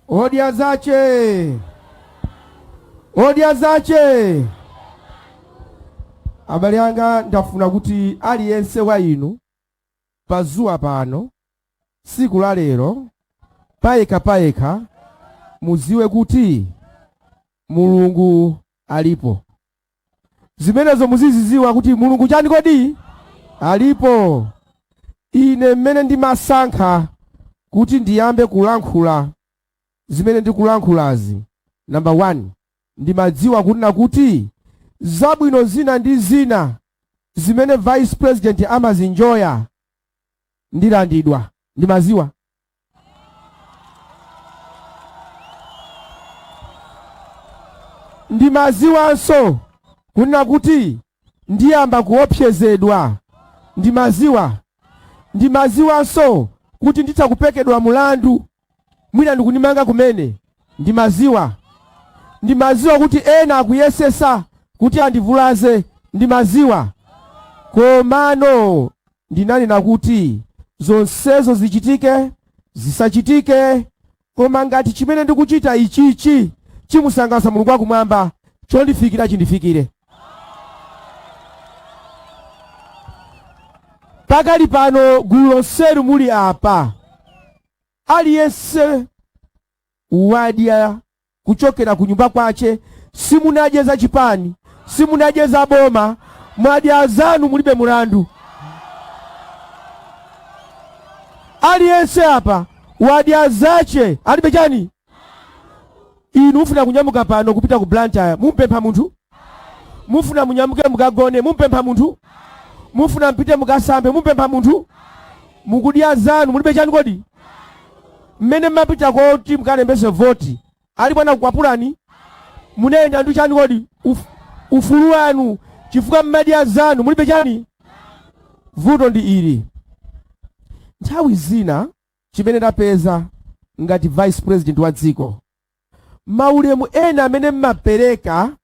Odya zace! Odya zace! Abale anga ndafuna kuti aliyense wa inu Padzuwa pano tsiku la lero payekha payekha muziwe kuti Mulungu alipo. zimenezo muziziziwa kuti mulungu chani kodi alipo ine mmene ndimasankha kuti ndiyambe kulankhula zimene ndikulankhulazi namba 1 ndimadziwa kunena kuti zabwino zina ndi zina zimene vice president amazinjoya ndilandidwa ndimaziwa ndimaziwanso kunena kuti ndiyamba kuopsezedwa ndimaziwa ndimaziwanso kuti nditha kupekedwa mulandu mwina ndikundimanga kumene ndimaziwa ndimaziwa kuti ena akuyesesa kuti andivulaze ndimaziwa komano Ndinanena kuti, Zonsezo zichitike, zisachitike, koma ngati chimene ndikuchita ichichi chimusangalasa Mulungu wa Kumwamba, chondifikira chindifikire. Pakali pano gulu lonselu muli apa, aliyense wadya kuchokera kunyumba kwache simunadye za chipani simunadye za boma mwadya zanu mulibe mulandu aliyense apa wadya zache alibe chani inu mufuna kunyamuka pano kupita ku blantyre mumpempha munthu Mufuna munyamuke mukagone, mumpempha munthu? Mufuna mpite mukasambe, mumpempha munthu? Mukudya zanu, mulibe chani kodi? Mmene mmapita kuti mukalembese voti, alipo anakukwapulani? Munayenda ndi chani kodi? Ufulu wanu, chifukwa mmadya zanu, mulibe chani? Vuto ndi ili. Nthawi zina chimene ndapeza ngati vice president wa dziko Maulemu ena amene mmapeleka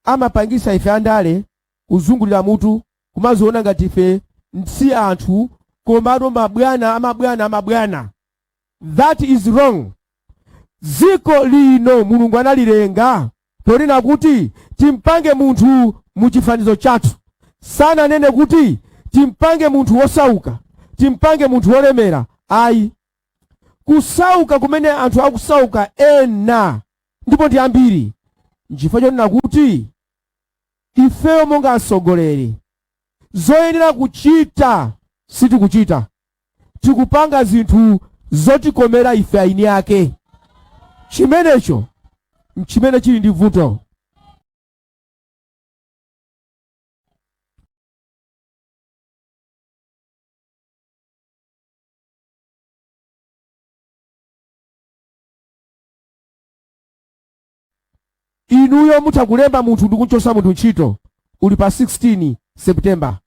amapangisa ife andale kuzungulira mutu kumaziona ngati ife si anthu komano mabwana amabwana amabwana that is wrong ziko lino mulungu analilenga ponena kuti timpange munthu muchifanizo chathu sananene kuti timpange munthu wosauka timpange munthu wolemera ayi kusauka kumene anthu akusauka ena ndipo ndi ambiri nchifukwa chonena kuti ifeyo monga atsogoleri zoyenera kuchita sitikuchita tikupanga zinthu zotikomera ife eni ake chimenecho nchimene chili ndi vuto inuyo mutha kulemba munthu ndikunchosa munthu ntchito uli pa 16 september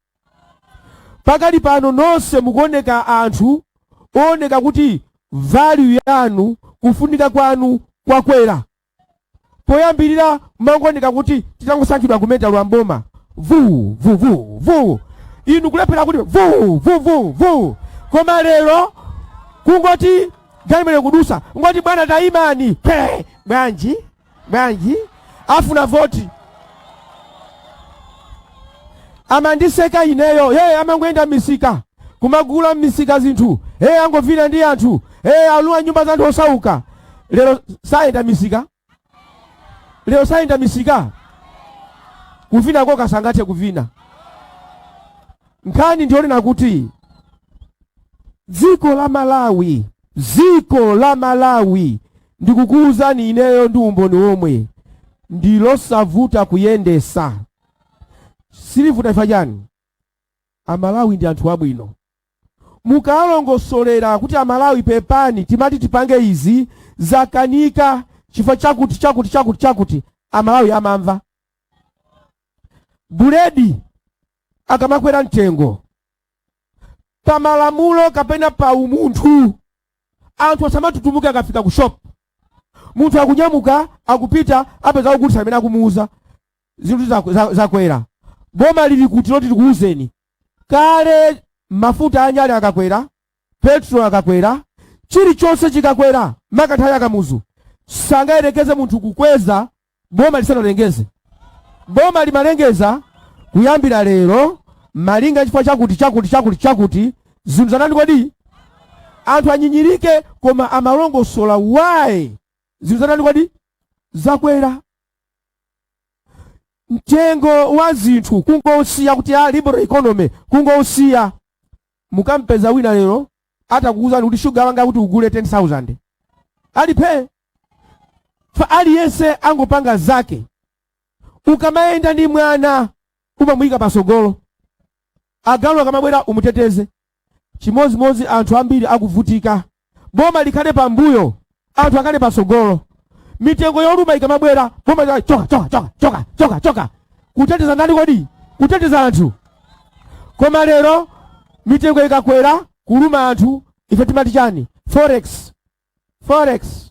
pakali pano nonse mukuoneka anthu ooneka kuti value yanu kufunika kwanu kwakwera poyambirira mmangoneka kuti titangosankhidwa kumeta lwa mpoma vuu vuvuu vuu inu kulephera kuti vuu vuvuu vuu koma lero kungoti galimoto kudutsa ngoti bwana tayimani Phe! bwanji bwanji afuna voti amandiseka ineyo hey amangoyenda m'misika kumagula m'misika zinthu hey angovina ndi anthu hey alowa nyumba za anthu osauka lero sayenda m'misika lero sayenda m'misika kuvina ko sangathe kuvina nkhani ndiyonena kuti dziko la malawi Dziko la Malawi ndikukuuzani ineyo ndi umboni womwe ndi losavuta kuyendesa silivuta chifukwa chani amalawi ndi anthu abwino mukawalongosolera kuti amalawi pepani timati tipange izi zakanika chifukwa chakuti chakuti chakuti chakuti amalawi amamva buledi akamakwera mtengo pa malamulo kapena pa umunthu anthu asamatutumuke akafika ku shop munthu akunyamuka akupita apeza akugulitsa amene akumuuza zinthu zaku- za- zakwera boma lili kuti loti tikuuzeni kale mafuta anyale akakwera petrol akakwera chilichonse chikakwera mu nthawi ya Kamuzu sangayerekeze munthu kukweza boma lisanalengeze. Boma limalengeza kuyambira lero malinga chifukwa chakuti chakuti chakuti chakuti zinthu zatani kodi anthu anyinyirike koma amalongosola why zinthu zatani kodi zakwera mtengo wa zinthu kungousiya kuti a liberal economy kungousiya mukampeza wina lero atakuwuzani kuti shuga wanga kuti ugule 10000 ali phee fa aliyense angopanga zake ukamayenda ndi mwana umamuyika pasogolo agalu akamabwera umuteteze chimodzimodzi anthu ambiri akuvutika boma likhale pambuyo anthu akhale pasogolo mitengo yoluma ikamabwera boma lika- choka choka choka choka choka choka kuteteza ndani kodi kuteteza anthu koma lero mitengo ikakwera kuluma anthu ife timati chani forex Forex,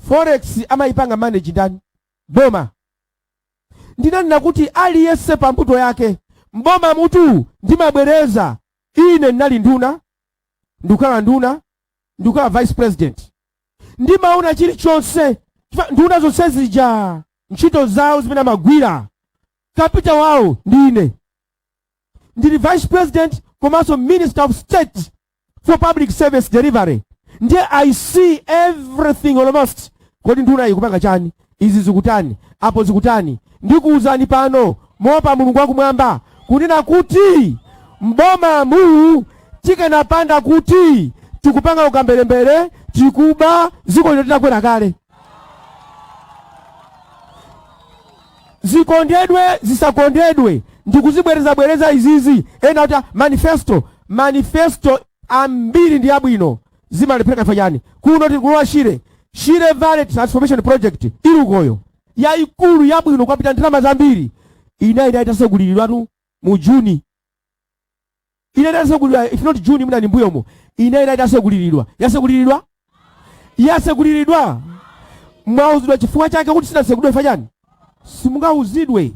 forex amayipanga manage ndani? Boma. Ndinanena kuti aliyense pa mbuto yake mbomamutu ndimabwereza ine ndinali nduna ndikukhala nduna ndikukhala vice president ndimaona chilichonse Chifukwa nduna zonse zija ntchito zawo zimene amagwira kapitawo wawo ndi ine ndili vice president komanso minister of state for public service delivery ndiye i see everything almost kodi nduna ikupanga chani izi zikutani apo zikutani ndikuwuzani pano moopa mulungu wakumwamba kunena kuti mbomamu tikanapanda kuti tikupanga ukamberembere tikuba ziko lino litakwera kale zikondedwe zisakondedwe ndikuzibwerezabwereza izizi ena akuti manifesto manifesto ambiri ndi abwino zimalephereka fa chani kunotu ku lower shire shire valley transformation project ili ukoyo yayikulu yabwino kwapita ndalama zambiri inayenera itaseguliridwatu mu juni Inayenera itasegulidwa, if not June mwina ndi mbuyomo. Inayenera itaseguliridwa. Yaseguliridwa? Yaseguliridwa. Mwauzidwa chifukwa chake kuti sinasegulidwe fa chani? Simungauzidwe.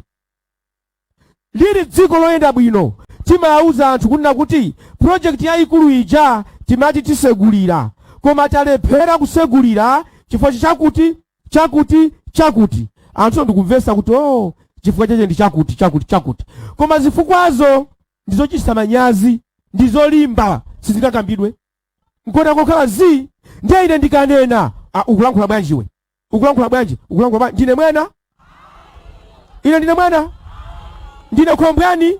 Lili dziko loyenda bwino. Timauza anthu kunena kuti project yayikulu ija timati tisegulira. Koma talephera kusegulira chifukwa chakuti chakuti chakuti anthu ndikumvesa kuti oh chifukwa chache ndi chakuti chakuti chakuti koma zifukwazo ndizochititsa manyazi ndizolimba sizingakambidwe nkona angokhala zii ndiye ine ndikanena ah, ukulankhula bwanji iwe ukulankhula bwanji ukulankhula bwanji ndine mwana ine ndine mwana ndine khombwani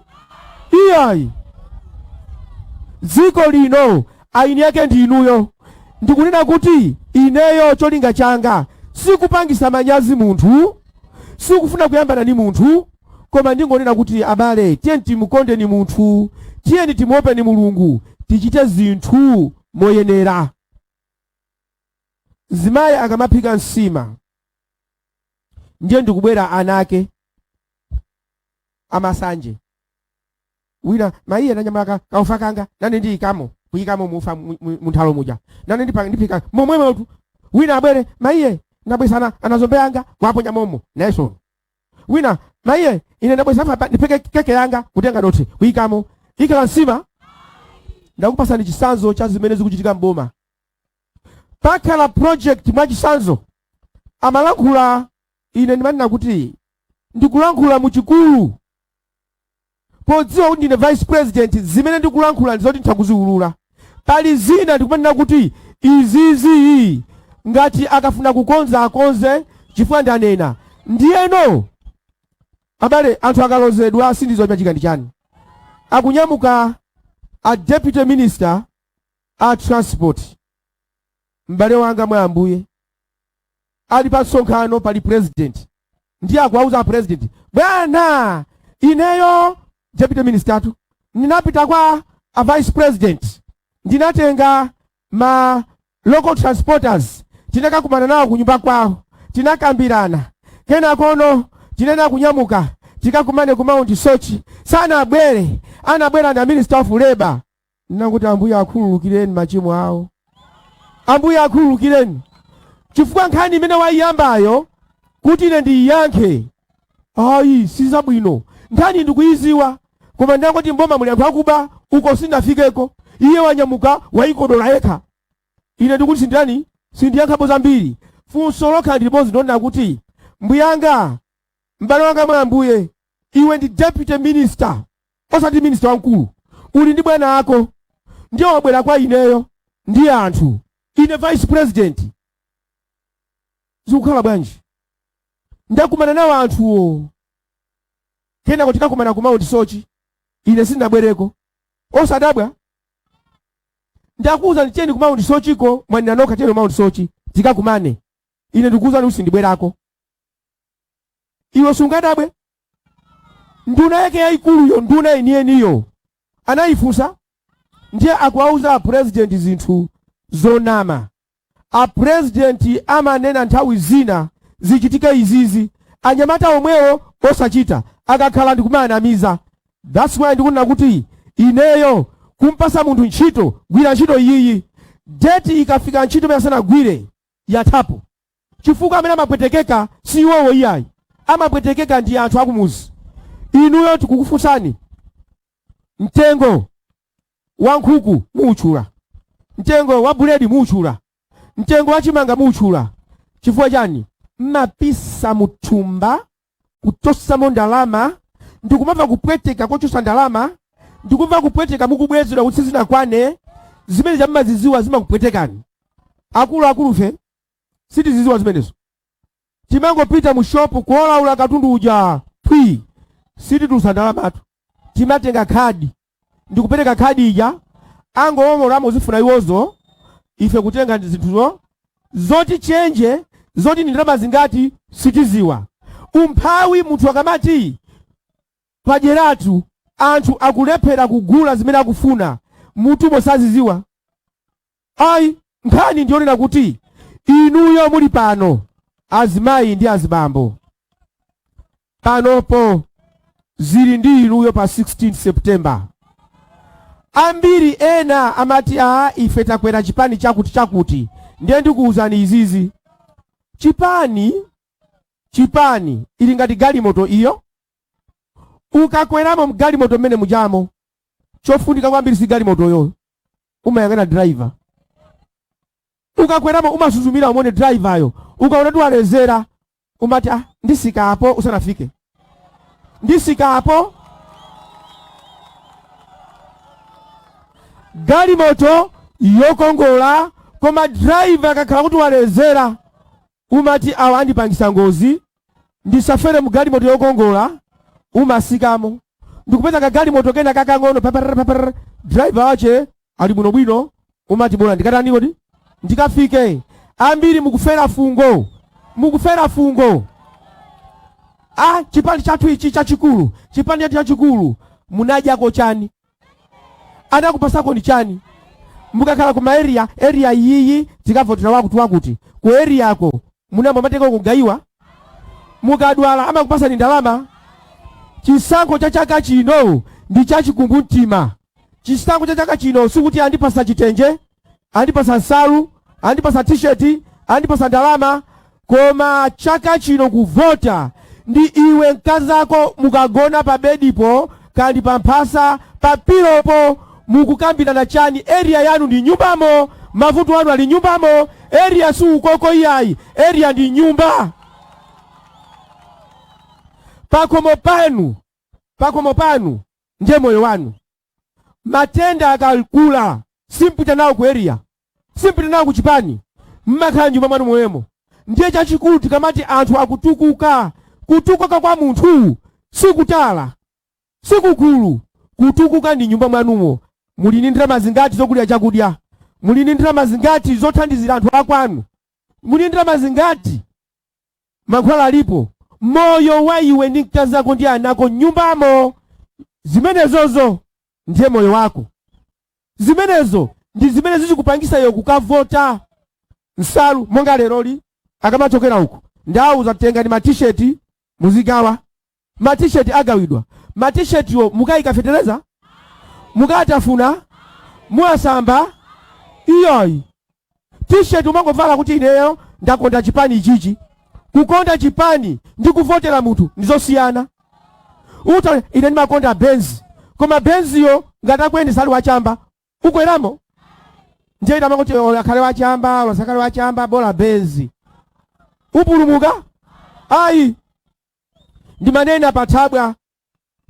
iyayi dziko lino eni ake ndi inuyo. Ndikunena kuti ineyo cholinga changa sikupangisa manyazi munthu, sikufuna kuyambana ndi munthu koma ndingonena kuti abale tiyeni timukondeni munthu, tiyeni timuopeni Mulungu, tichite zinthu moyenera. Mzimayi akamaphika nsima ndiye ndikubwera ana ake amasanje. wina mayiye wanyamula kaufa kanga nane ndiyikamo kuyikamo mufa mu- mu- munthalo muja nane ndipa- ndipika momwemo tu wina abwere mayiye ndabwesana anazombe yanga waponya momo nayeso wina mayiye ine ndabwesa apa ndipeke keke yanga kutenga dothi kuyikamo ikhala nsima ndakupasani chisanzo cha zimene zikuchitika mboma pakhala project mwa chisanzo amalankhula ine ndimanena kuti ndikulankhula mu chikulu Podziwa kuti ndine vice president zimene ndikulankhula ndizoti nditha kuziulula. Pali zina ndikumanena kuti izizii ngati akafuna kukonza akonze chifukwa ndanena. Ndiyeno abale anthu akalozedwa sindiziwa chimachitika ndi chani. Akunyamuka a deputy minister a transport m'bale wanga mwa ambuye. ali pa msonkhano pali president ndiye akuwauza a president bwana ineyo deputy minister tu ndinapita kwa a vice president ndinatenga ma local transporters tinakakumana nawo kunyumba kwawo tinakambirana kenakono tinena kunyamuka tikakumane ku mount soche sanabwere anabwera na minister of labor Nangoti Ambuye akhululukireni machimo awo. Ambuye akhululukireni chifukwa nkhani imene waiyambayo kuti ine ndiiyankhe ayi sizabwino nkhani ndikuiziwa koma ndangoti mboma muli anthu akuba uko sinafikeko iye wanyamuka waikodola yekha ine ndikuti sindani sindiyankhapo zambiri funso lokha ndi limodzi ndonena kuti mbuyanga m'bale wanga mwa ambuye iwe ndi deputy minister Osati minisita wamkulu, uli ndi bwana ako, ndiye wabwera kwa ineyo ndi anthu, ine vice president. Zikukhala bwanji? Ndakumana nawo anthuwo, kenako tikakumana ku Mount Soche, ine sindinabwereko. Osadabwa, ndakuwuzani venue ku Mount Socheko, mwanena nokha venue ku Mount Soche tikakumane, ine ndikuwuzani kuti sindibwerako. iwe sungadabwe nduna yake yayikuluyo nduna yeniyeniyo anayifunsa ndiye akuwauza apurezidenti zinthu zonama apurezidenti amanena nthawi zina zichitike izizi anyamata omwewo osachita akakhala ndikumawanamiza that's why ndikunena kuti ineyo kumpasa munthu ntchito gwira ntchito iyiyi deti ikafika ntchito munthu asanagwire yathapo chifukwa amene amapwetekeka si iwowo iyayi amapwetekeka ndi anthu akumuzi inuyo tikukufunsani mtengo wa nkhuku muutchula mtengo wa buledi muutchula mtengo wa chimanga muutchula chifukwa chani mmapisa muthumba kuchosamo ndalama ndikumva kupweteka kochosa ndalama ndikumva kupweteka mukubwezedwa kuti sizinakwane zimene zimene mmaziziwa zimakupwetekani akuluakulufe sitiziziwa zimenezo timangopita mu shopu kuolaula katundu uja pwi sititulutsa ndalamatu timatenga khadi ndikupereka khadi ija angowomolamo zofuna iwozo ife kutenga zinthuzo zoti chenje zoti ni ndalama zingati sitiziwa umphawi munthu akamati pajeratu anthu akulephera kugula zimene akufuna mutumo saziziwa Ayi, nkhani ndiyonena kuti inuyo muli pano azimayi ndi azibambo panopo zili ndi inuyo pa 16 September. Ambiri ena amati a ife takwera chipani chakuti chakuti, ndiye ndikuwuzani izizi chipani chipani ili ngati galimoto iyo, ukakweramo mgalimoto mmene mujamo chofunika kwambiri si galimotoyo, umayang'ana driver ukakweramo umasuzumira umone driver yo ukaona kuti walezera umati ah, ndisika apo usanafike ndisika apo galimoto yokongola koma driver akakhala kuti walezera umati awa andipangisa ngozi ndisafere mu galimoto yokongola umasikamo ndikupeza kagalimoto kena kakang'ono papar papar driver wache ali bwino bwino umati bola ndikatani kodi ndikafike ambiri mukufera fungo mukufera fungo a chipani chathu ichi chachikulu chipani chathu chachikulu munadyako chani anakupasako ni chani mukakhala kuma area area iyiyi tikavotera wakuti wakuti ku area yako munabwera matega kugawiwa mukadwala amakupasani ndalama chisankho cha chaka chino ndi chachikumbumtima chisankho cha chaka chino sikuti andipasa chitenje andipasa nsalu andipasa t-shirt andipasa ndalama koma chaka chino kuvota ndi iwe mkazako mukagona pa bedipo kandi pa mphasa pa pilopo mukukambirana chani area yanu ndi nyumbamo mavuto anu ali nyumbamo area si ukoko iyayi area ndi nyumba pakomo panu pakomo panu ndiye moyo wanu matenda akakula simpita nawo ku area simpita nawo ku chipani mmakhala nyumba mwanu momwemo ndiye chachikulu tikamati anthu akutukuka kutukuka kwa munthu sikutala sikukulu kutukuka ndi nyumba mwanumo muli ndi ndalama zingati zogulira chakudya muli ndi ndalama zingati zothandizira anthu akwanu muli ndi ndalama zingati Mankhwala alipo, moyo wa iwe ndi mkazi ako ndi ana ako m'nyumbamo. Zimenezozo ndiye moyo wako. Zimenezo ndi zimene zizikupangisa iwe kukavota. Nsalu monga leroli akamachokera uko ndawauza tengani ma t-shirt muzigawa Ma t-shirt agawidwa. Ma t-shirt wo mukaika fetereza? Mukatafuna? Muwasamba? Iyayi. T-shirt umangovala kuti ineyo ndakonda chipani ichichi. Kukonda chipani ndi kuvotera munthu ndi zosiyana. Uta ine ndimakonda Benz. Koma Benz yo ngati akuyendesa ali wachamba. Ukweramo? Ndiye utamangoti akhale wachamba, olo asakhale wachamba, bola Benz. Upulumuka? Ayi. Ndimanena pa Thabwa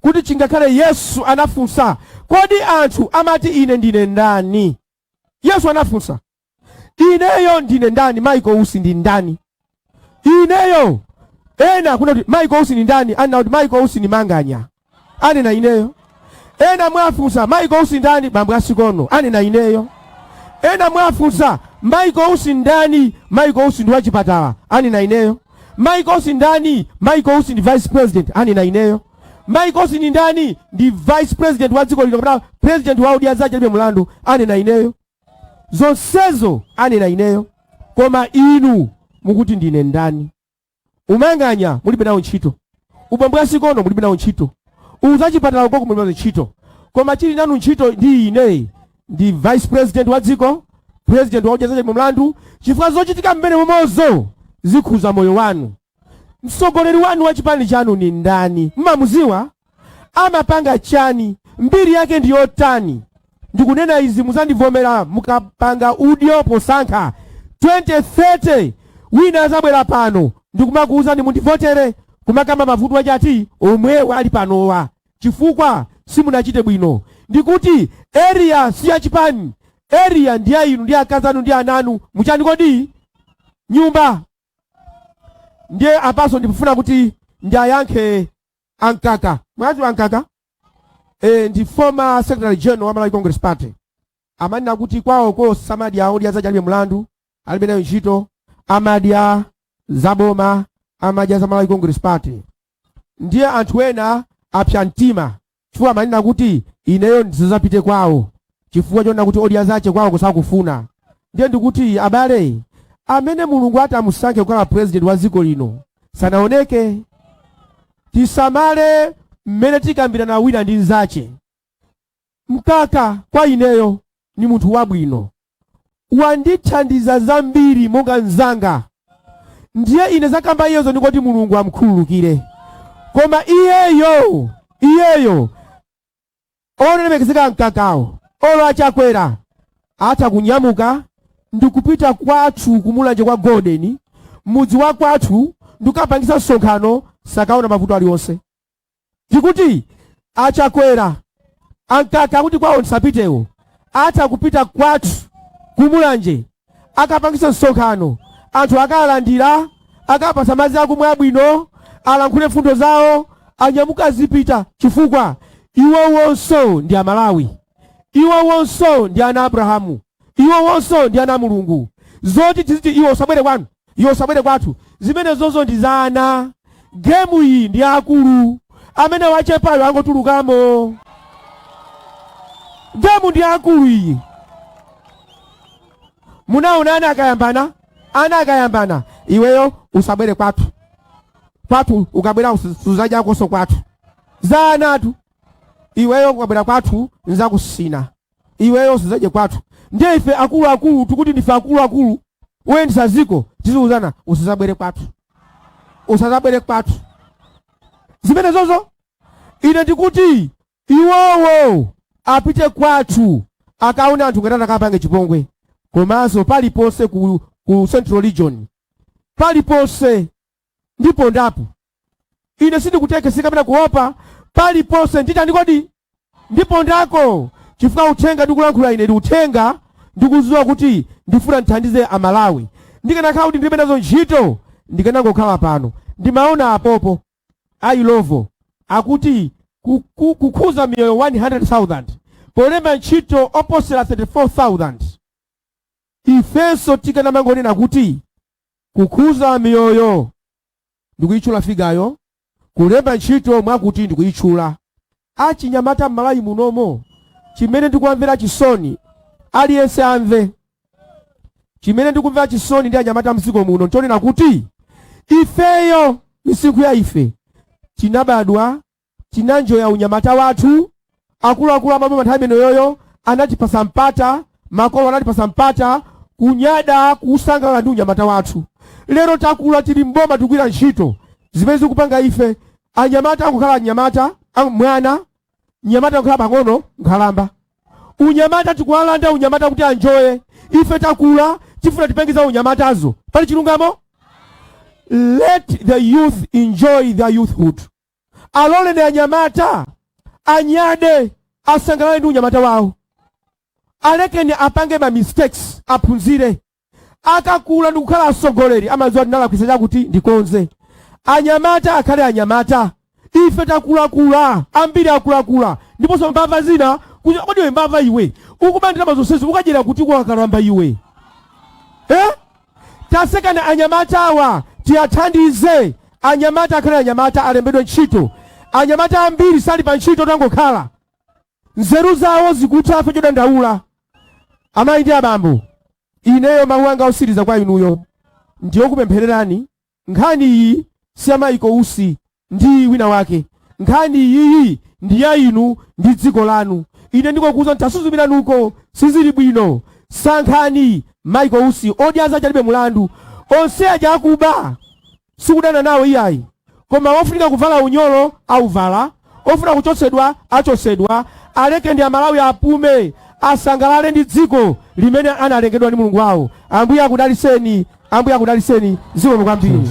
kuti chingakhale Yesu anafunsa, Kodi anthu amati ine ndine ndani? Yesu anafunsa, Ineyo ndine ndani? Michael Usi ndi ndani? Ineyo ena akunena kuti Michael Usi ndi ndani? Anena kuti Michael Usi ni Manganya. anena ineyo ena mwafunsa michael usi ndani bambo a sikono anena ineyo ena mwafunsa michael usi ndani michael usi ndi wachipatala anena ineyo michael usi ndani michael usi ndi vice president anena ineyo michael usi ndi ndani ndi vice president wa dziko lino kapena president wa odya zache alibe mlandu anena ineyo zonsezo anena ineyo koma inu mukuti ndine ndani umanganya mulibe nawo ntchito ubambo a sikono mulibe nawo ntchito uzachipatala ukoko mulibe nawo ntchito koma chili nanu ntchito ndi ine ndi vice president wa dziko president wa odya zache alibe mlandu chifukwa zochitika mmene momozo zikhuza moyo wanu mtsogoleri wanu wa chipani chanu ni ndani mmamuziwa amapanga chani mbiri yake ndi yotani ndikunena izi muzandivomera mukapanga udyo posankha 2030 wina azabwera pano ndikumakuwuzani mundivotere kumakamba mavuto ache ati omwewa ali panowa chifukwa simunachite bwino ndikuti area si ya chipani area ndi ya inu ndi akazi anu ndi ana anu mu chani kodi nyumba ndiye apanso ndikufuna kuti ndiayankhe a mkaka mwadziwa a mkaka e, ndi former secretary general wa malawi congress party amanena kuti kwawoko samadya odya zace alibe mlandu alibe nayo ntchito amadya zaboma amadya za malawi congress party ndiye anthu ena apsa mtima chifukwa amanena kuti ineyo ndisazapite kwawo chifukwa chonena kuti odya zace kwawoko sakufuna ndiye ndikuti abale amene mulungu atamusankhe kukhala president wa dziko lino sanaoneke tisamale mmene tikambirana wina ndi nzace mkaka kwa ineyo ni munthu wabwino wandithandiza zambiri monga nzanga ndiye ine zakamba iyezo ndikuti mulungu amkhululukire koma iyeyo iyeyo Olemekezeka a Mkakawo, olo a Chakwera atha kunyamuka ndikupita kwathu ku Mulanje kwa Golden, mudzi wa kwathu ndikukapangitsa msonkhano sakaona mavuto alionse. Tikuti a Chakwera, a Mkaka akuti kwawo ndisapitewo, atha kupita kwathu ku Mulanje akapangitsa msonkhano, anthu akawalandira, akawapatsa madzi akumwa abwino, alankhule mfundo zawo, anyamuke azipita, chifukwa iwowonso ndi Amalawi, iwowonso ndi ana a Abrahamu, iwowonso ndi ana a Mulungu. Zoti tiziti iwe usabwere kwanu Iwe usabwere kwathu, zimenezozo ndi za ana. Gemu iyi ndi ya akulu, amene wachepayo angotulukamo. Gemu ndi ya akulu iyi. Munaona ana akayambana, ana akayambana, iweyo usabwere kwathu. Kwathu ukabwera suzadyakonso kwathu, za anatu. Iweyo ukabwera kwathu nzakusina. iweyo usazadye kwathu ndiye ife akuluakulu tikuti ndife akuluakulu woyendesa ziko tiziuzana usazabwere kwathu usazabwere kwathu zimenezozo ine ndikuti iwowo apite kwathu akaone anthu ngati atakapange chipongwe komanso paliponse ku, ku central region paliponse ndipondapo. Ine sindikutekeseka kapena kuopa paliponse. Nditani kodi? Ndipondako chifukwa uthenga ndikulankhula ine ndi uthenga ndikuziwa kuti ndifuna ndithandize Amalawi. Ndikanakhala kuti ndilibe nazo ntchito ndikanangokhala pano. Ndimaona apopo a Illovo akuti ku- ku- kukhuza miyoyo 100,000 polemba ntchito oposera 34,000 ifenso tikanamangonena kuti Kukhudza miyoyo ndikuyitchula figayo, kulemba ntchito mwakuti ndikuyitchula. Achinyamata m'Malawi munomo chimene ndikuwamvera chisoni, aliyense amve, chimene ndikumvera chisoni ndi anyamata m'dziko muno nchonena kuti ifeyo misinkhu ya ife tinabadwa, Tinanjoya unyamata wathu, akuluakulu a maboma nthawi imenoyoyo anatipasa mpata, makolo anatipasa mpata, kunyada, kusangalala ndi unyamata wathu. Lero takula tili m'boma tikugwira ntchito, zimene zikupanga ife anyamata angokhala anyamata, mwana, nyamata angokhala pang'ono, nkhalamba. Unyamata tikuwalanda unyamata kuti anjoye, ife takula tifuna tipenge za unyamatazo. Pali chilungamo? Let the youth enjoy their youthhood. Aloleni anyamata anyade, asangalale ndi unyamata wawo. Alekeni apange ma mistakes, aphunzire. Akakula ndikukhala atsogoleri amadziwa ndinalakwitsa chakuti ndikonze. Anyamata akhale anyamata. Ife takulakula, ambiri akulakula ndiponso mbava zina. kunya- Kodi iwe mbava iwe, ukuba ndalama zonsezi ukadyera kuti wakalamba iwe? Eh? Tatsekani anyamata awa tiathandize anyamata akhale anyamata alembedwe ntchito anyamata ambiri sali pa ntchito tangokhala nzeru zawo zikutha afe chodandaula amayi ndi abambo ineyo mawu anga osiriza kwa inuyo ndiyokupemphererani Nkhani iyi si ya Michael Usi ndi wina wake. Nkhani iyiyi ndi ya inu ndi dziko lanu. Ine ndingokuuzani tasuzumirani uko sizili bwino. Sankhani Michael Usi. Odya zache alibe mulandu. Onse aja akuba sikudana nawo iyayi. Koma wofunika kuvala unyolo auvala. Ofuna kuchotsedwa achotsedwa alekeni amalawi apume asangalale ndi dziko limene analengedwa ndi mulungu wawo ambuye akudaliseni ambuye akudaliseni zikomo kwambiri.